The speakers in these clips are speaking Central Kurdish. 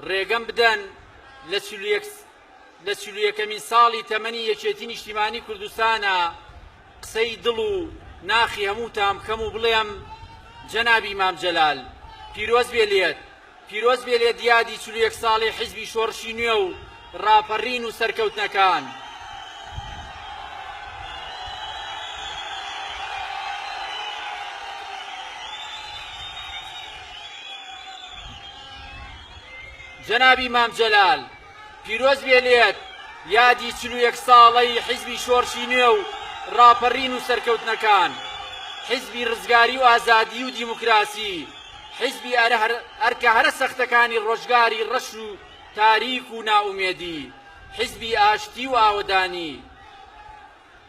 ڕێگەم بدەن لە چل و یەک لە چل و یەکەمین ساڵی تەمەنی یەکێتی نیشتیمانی کوردستانە قسەی دڵ و ناخی هەمووتان بکەم و بڵێم جەنابی مام جەلال پیرۆز بێ لێت پیرۆز بێ لێت دیادی چل و یەک ساڵی حیزبی شۆڕشی نوێ و ڕاپەڕین و سەرکەوتنەکان جەنابی مام جەلال پیرۆز بێ لێت یادی چل و یەک ساڵەی حیزبی شۆرشی نوێ و ڕاپەڕین و سەرکەوتنەکان حیزبی ڕزگاری و ئازادی و دیموکراسی حیزبی ئەرکە هەرە سەختەکانی ڕۆژگاری ڕەش و تاریک و نائومێدی، حیزبی ئاشتی و ئاوەدانی،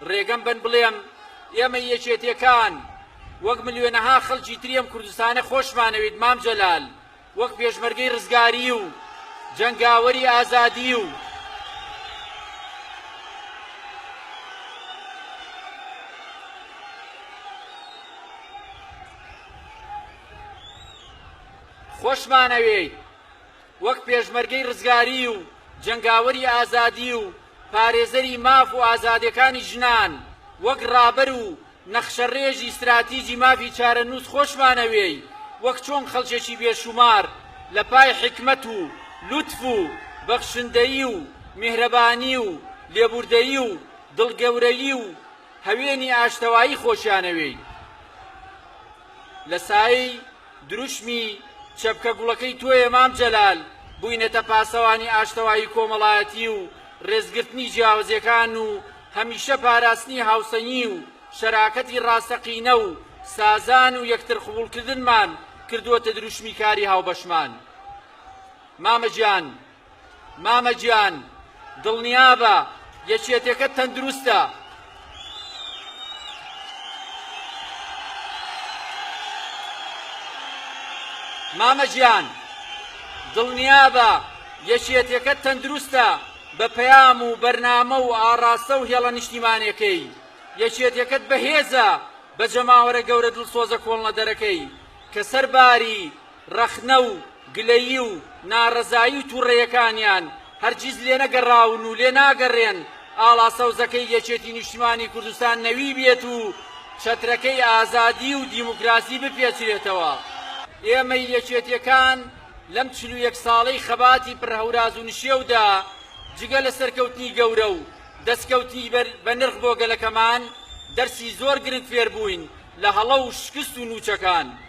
ڕێگەم بەن بڵێم ئێمەی یەکێتیەکان وەک ملیۆنەها خەڵکی تری ئەم کوردستانە خۆشمانەوێیت مام جەلال وەک پێشمەرگەی ڕزگاری و جەنگاوەری ئازادی و خۆشمانەوێیت وەک پێشمەرگەی ڕزگاری و جەنگاوەری ئازادی و پارێزەری ماف و ئازادێکانی ژنان، وەک ڕابەر و نەخشەڕێژی ستراتیجی مافی چارەنووس خۆشمانەوێی، وەک چۆن خەڵکێکی بێ شومار لە پای حیکمەت و لوتف و بەخشندەیی و میهرەبانی و لێبوردەیی و دڵ گەورەیی و هەوێنی ئاشتەوایی خۆشیانەوێی لە سایەی دروشمی، چەپکە گوڵەکەی تۆیە مام جەلال، بووینەتە پاسەوانی ئاشتەوایی کۆمەڵایەتی و ڕێزگرتنی جیاوزیەکان و هەمیشە پاراستنی هاوسەنگی و شەراکەتی ڕاستەقینە و سازان و یەکتر قبوڵکردنمان کردووەتە دروشمی کاری هاوبەشمان مامە گیان. مامە گیان دڵنیابە یەکێتێکە تەندروستە. مامە گیان دڵنیابە یەکێتێکە تەندروستە بە پەیام و بەرنامە و ئاڕاستە و هێڵە نیشتیمانەکەی یەکێتێکەت بەهێزە بە جەماوەرە گەورە دڵسۆزە کۆڵنەدەرەکەی کە سەرباری ڕەخنە و گلەیی و ناڕەزایی و توڕەیەکانیان هەرگیز لێنەگەڕاون و لێناگەڕێن ئاڵا سەوزەکەی یەکێتی نیشتیمانی کوردستان نەوی بێت و چەترەکەی ئازادی و دیموکراسی بپێچرێتەوە. ئێمەی یەکێتیەکان لەم چل و یەک ساڵەی خەباتی پڕ هەوراز و نشێودا جگە لە سەرکەوتنی گەورە و دەستکەوتنی بەنرخ بۆ گەلەکەمان، دەرسی زۆر گرنگ فێربووین لە هەڵە و شکست و نوچەکان.